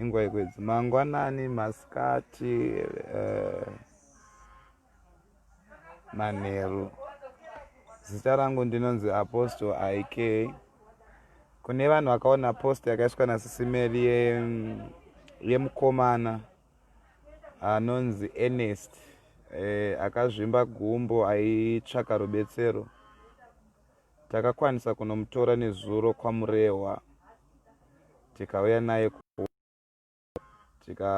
ingwa yekwedzi mangwanani masikati uh, manheru zita rangu ndinonzi apostle ik kune vanhu vakaona post yakaiswa nasisimeli yemukomana ye anonzi ernest eh, akazvimba gumbo aitsvaka rubetsero Takakwanisa kunomutora nezuro kwaMurehwa tikauya naye tika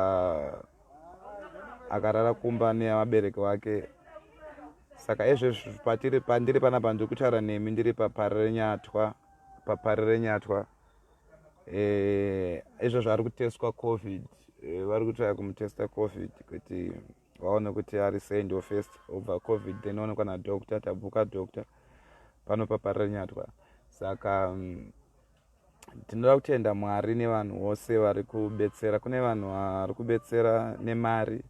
akarara kumba nevabereki vake saka ezvezvi patiri pandiri panapa ndiri kutaura nemi ndiri paparenyatwa paparenyatwa eh, izvozvo ari kutestwa covid eh, vari kutaya kumutesta covid kuti vaone kuti ari sei ndo first obva covid then onekwa nadoctor tabvuka doctor pano paparanyatwa saka um, tinoda kutenda mwari nevanhu vose vari kubetsera kune vanhu vari kubetsera nemari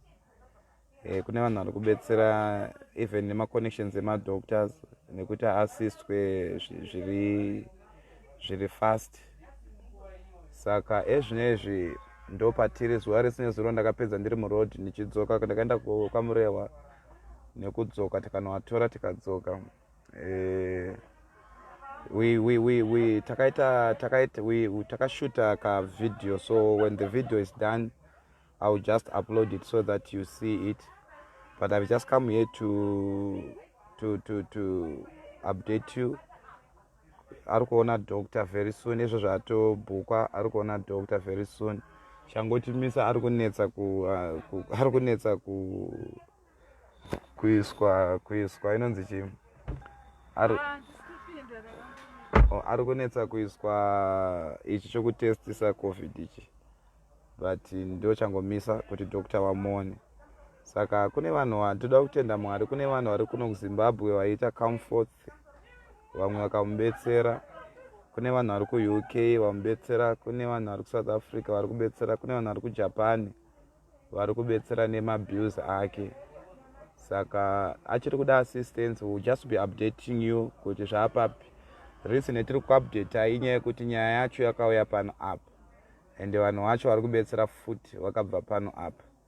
e, kune vanhu vari kubetsera even nemaconnections emadoctors nekuti aasistwe zviri zviri fast saka ezvinezvi ndopatiri zuva rese nezuro ndakapedza ndiri muroad ndichidzoka ndakaenda kwamurehwa nekudzoka tikanoatora tikadzoka eh, takaita takaita takashuta kavideo so when the video is done i will just upload it so that you see it but i've just come here to to to to update you ari kuona doctor very soon izvo zvatobhukwa ari kuona doctor very soon changochimisa ari kunetsa ku, uh, ku ari kunetsa ku kuiswa kuiswa inonzi chi ari oh, ari kunetsa kuiswa ichi chokutestisa covid ichi but ndo changomisa kuti doctor wamuone saka kune vanhu toda kutenda mwari kune vanhu vari kuno kuzimbabwe vaiita comforts vamwe vakamubetsera kune vanhu vari kuuk vamubetsera kune vanhu vari kusouth africa vari kubetsera kune vanhu vari kujapan vari kubetsera nemabils ake saka achiri kuda assistance will just be updating you kuti zvaapapi reason yetiri kuupdata inyaya yekuti nyaya yacho yakauya pano apa ende vanhu vacho vari kubetsera futi vakabva pano apa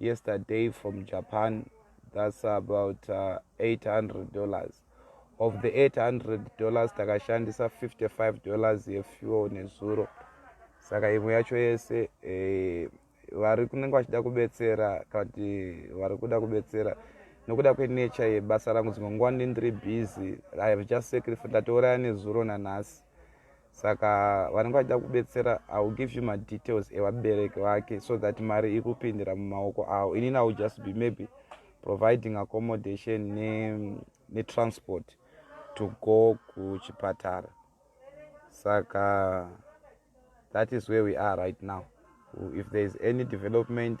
yesterday from japan thats about uh, 800 dollars of the 800 dollars takashandisa 55 dollars yefuel nezuro saka imwe yacho yese eh, vari kunenge vachida kubetsera kana kuti vari kuda kubetsera nokuda kwenature yebasa rangu dzimwe nguva ndindiri busy i have just sacrifice ndatouraya nezuro nanhasi saka vanenge vachida kubetsera iwill give you madetails evabereki vake so that mari ikupindira mumaoko avo inini iwill just be maybe providing accommodation netransport ne to go kuchipatara saka that is where we are right now if there is any development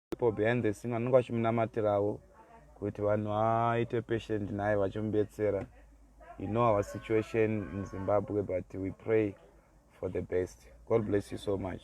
people behind the scene vanenge vachimunamatirawo kuti vanhu vaite patient naye vachimubetsera you know our situation in zimbabwe but we pray for the best god bless you so much